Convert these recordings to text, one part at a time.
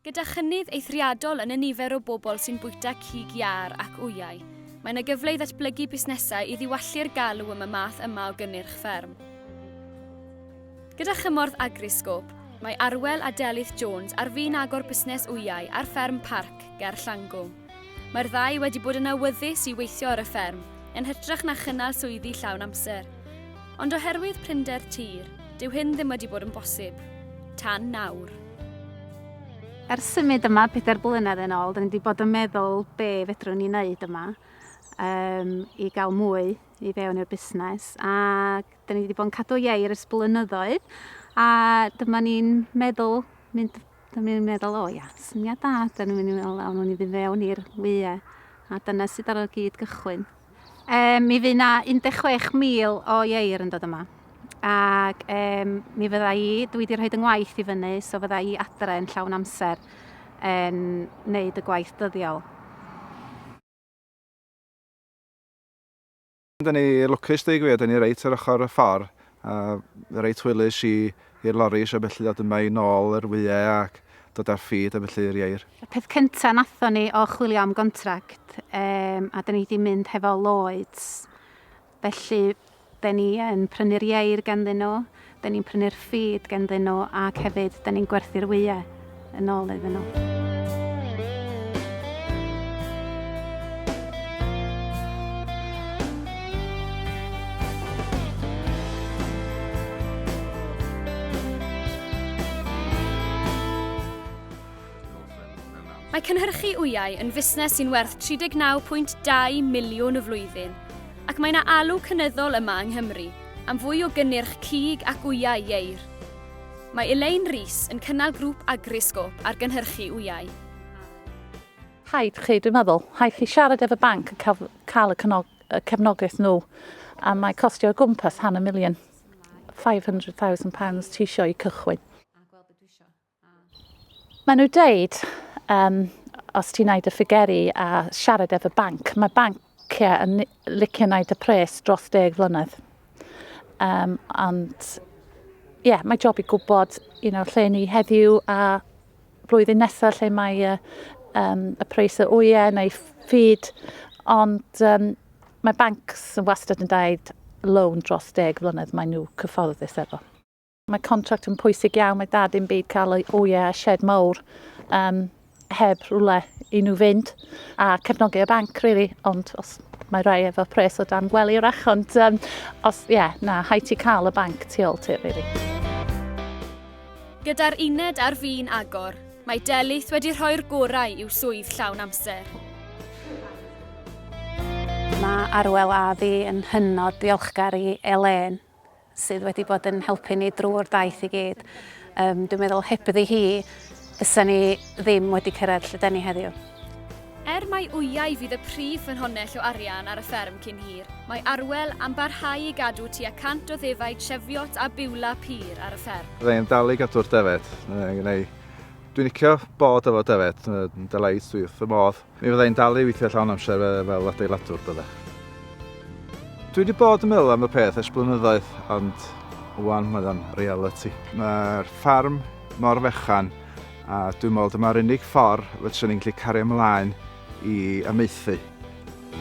Gyda chynnydd eithriadol yn y nifer o bobl sy'n bwyta cig iâr ac wyau, mae yna gyfle i ddatblygu busnesau i ddiwallu'r galw am y math yma o gynnyrch fferm. Gyda chymorth Agriscope, mae Arwel a Delyth Jones ar fin agor busnes wyau ar fferm Parc ger Llangw. Mae'r ddau wedi bod yn awyddus i weithio ar y fferm, yn hytrach na chynnal swyddi llawn amser. Ond oherwydd prinder tir, dyw hyn ddim wedi bod yn bosib. Tan nawr. Ers symud yma pedair blynedd yn ôl, dyn ni wedi bod yn meddwl be fedrwn ni wneud yma um, i gael mwy i fewn i'r busnes a dyn ni wedi bod yn cadw iau ers blynyddoedd a dyma ni'n meddwl mynd Dyna ni'n meddwl, o ia, syniad da, dyna ni'n meddwl, awn ni ddim fewn i'r wyau. A dyna sydd ar y gyd gychwyn. Um, mi fydd na 16,000 o ieir yn dod yma. Ac um, mi fydda i, dwi wedi rhoi yngwaith i fyny, so fydda i adre yn llawn amser yn wneud y gwaith dyddiol. Da ni lwcus dweud gwir, da ni reit ar ochr y ffordd. A reit hwylus i i'r loris a felly ddod yma i nôl yr wyau ac dod â'r ffid a felly i'r ieir. Y peth cynta nathon ni o chwilio am gontract yym a da ni di mynd hefo Lloyds felly da ni yn prynu'r ieir ganddyn nhw, da ni'n prynu'r ffid ganddyn nhw ac hefyd da ni'n gwerthu'r wyau. Yn ôl iddyn nhw. Mae cynhyrchu wyau yn fusnes sy'n werth 39.2 miliwn y flwyddyn, ac mae yna alw cynyddol yma yng Nghymru am fwy o gynnyrch cig ac wyau ieir. Mae Elaine Rees yn cynnal grŵp Agriscope ar gynhyrchu wyau. Hi chi, dwi'n meddwl, hi chi siarad efo banc yn cael, cael y, cynog, y cefnogaeth nhw a mae costio o gwmpas han y miliwn. £500,000 ti eisiau i cychwyn. Mae nhw dweud, um, os ti'n neud y ffigeri a siarad efo banc, mae banc Cia yn licio wneud y pres dros deg flynedd. Um, ond, ie, yeah, mae job i gwybod you know, lle ni heddiw a blwyddyn nesaf lle mae uh, um, y pres y wyau neu ffyd. Ond um, mae bancs yn wastad yn dweud loan dros deg flynedd, mae nhw cyfforddus efo. Mae contract yn pwysig iawn, mae dad yn byd cael ei oie a shed mawr um, heb rhywle i nhw fynd a cefnogi y banc, really, ond os mae rai efo pres o dan gwely rach, ond um, os, ie, yeah, na, hai ti cael y banc tu ôl ti, rili. Gyda'r uned ar fin agor, mae Delith wedi rhoi'r gorau i'w swydd llawn amser. Mae Arwel a fi yn hynod ddiolchgar i Elaine sydd wedi bod yn helpu ni drwy'r daith i gyd. Um, dwi'n meddwl hebddi hi, fysa ni ddim wedi cyrraedd lle deni heddiw. Er mai wyau fydd y prif ffynhonnell o arian ar y fferm cyn hir, mae Arwel am barhau i gadw tua 100 o ddefaid Cheviot a Biwla pur ar y fferm. Byddai yn dal i gadw'r defed. Dwi'n licio bod efo defed, yn delight, dwi wrth y modd. Mi fydda i'n dal i weithio llawn amser fel adeiladwr, bydda. Dwi wedi bod yn meddwl am y peth ers blynyddoedd, ond wan mae o'n reality. Mae'r ffarm mor fechan, a dwi'n meddwl dyma'r unig ffordd fedrwn ni'n gallu cario ymlaen i amaethu.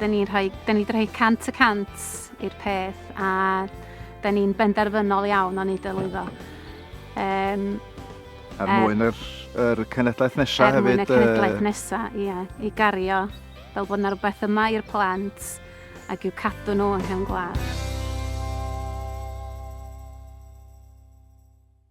Dyn ni'n rhoi, dyn ni wedi rhoi cant y cant i'r peth a dyn ni'n benderfynol iawn o'n ei dylwyddo. Um, er mwyn yr, yr cenedlaeth nesaf hefyd. Er mwyn y cenedlaeth nesaf, ie. I gario fel bod yna rhywbeth yma i'r plant ac i'w cadw nhw yn hen gwlad.